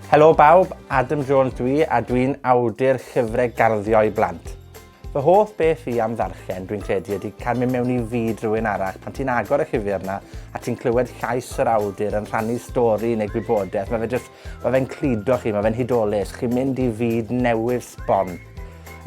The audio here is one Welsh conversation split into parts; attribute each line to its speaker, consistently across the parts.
Speaker 1: Helo bawb, Adam Jones dw i, a dw i'n awdur llyfre garddio i blant. Fy hoff beth fi am ddarllen, dwi'n credu, ydy cael mynd mewn i fyd rhywun arall. Pan ti'n agor y llyfr 'na, a ti'n clywed llais yr awdur yn rhannu stori neu gwybodaeth, mae fe jyst Ma' fe'n cludo chi, ma' fe'n hudolus. Chi'n mynd i fyd newydd sbon.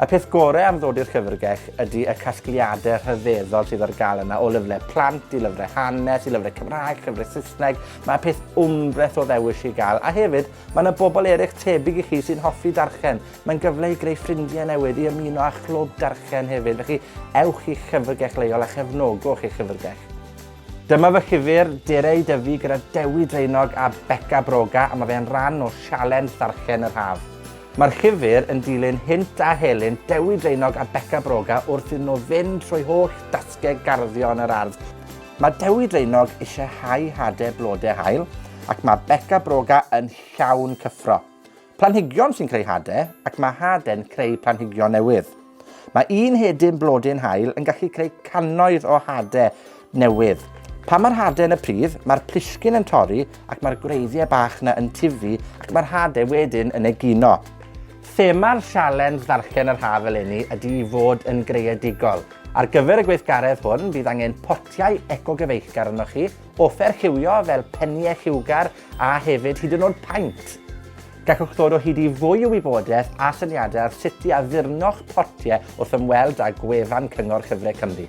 Speaker 1: Y peth gore am ddod i'r Llyfrgell ydi y casgliade rhyfeddol sydd ar ga'l yna, o lyfre plant i lyfre hanes i lyfre Cymraeg, llyfre Sysneg, ma' peth wmbreth o ddewis i ga'l, a hefyd, ma' 'na bobl erych tebyg i chi sy'n hoffi darllen. Mae'n gyfle i greu ffrindie newydd, i ymuno â chlwb darllen hefyd, felly ewch i'ch llyfrgell leol a chefnogwch eich llyfrgell. Dyma fy llyfr Dere i Dyfu gyda Dewi Draenog a Beca Broga a ma' fe yn ran o sialens Ddarllen yr Haf. Ma'r llyfr yn dilyn hynt a helynt Dewi Draenog a Beca Broga wrth iddyn nhw fynd trwy holl dasgeg garddio yn yr ardd. Ma' Dewi Draenog isie hau hade blode haul ac ma' Beca Broga yn llawn cyffro. Planhigion sy'n creu hade, ac ma' hade'n creu planhigion newydd. Mae un hedyn blodyn haul yn gallu creu cannoedd o hade newydd. Pan mae'r hade yn y pridd, mae'r plisgyn yn torri ac mae'r gwreiddiau bach yna yn tifu ac mae'r hade wedyn yn egino. Thema'r sialens ddarllen yr haf eleni ydy i fod yn greadigol. Ar gyfer y gweithgaredd hwn, bydd angen potiau ecogyfeillgar arnoch chi, offer lliwio fel penie lliwgar a hefyd hyd yn o'd paent. Gallwch ddod o hyd i fwy o wybodeth a syniade ar sut i addurno'ch potie wrth ymweld â gwefan Cyngor Llyfre Cymru.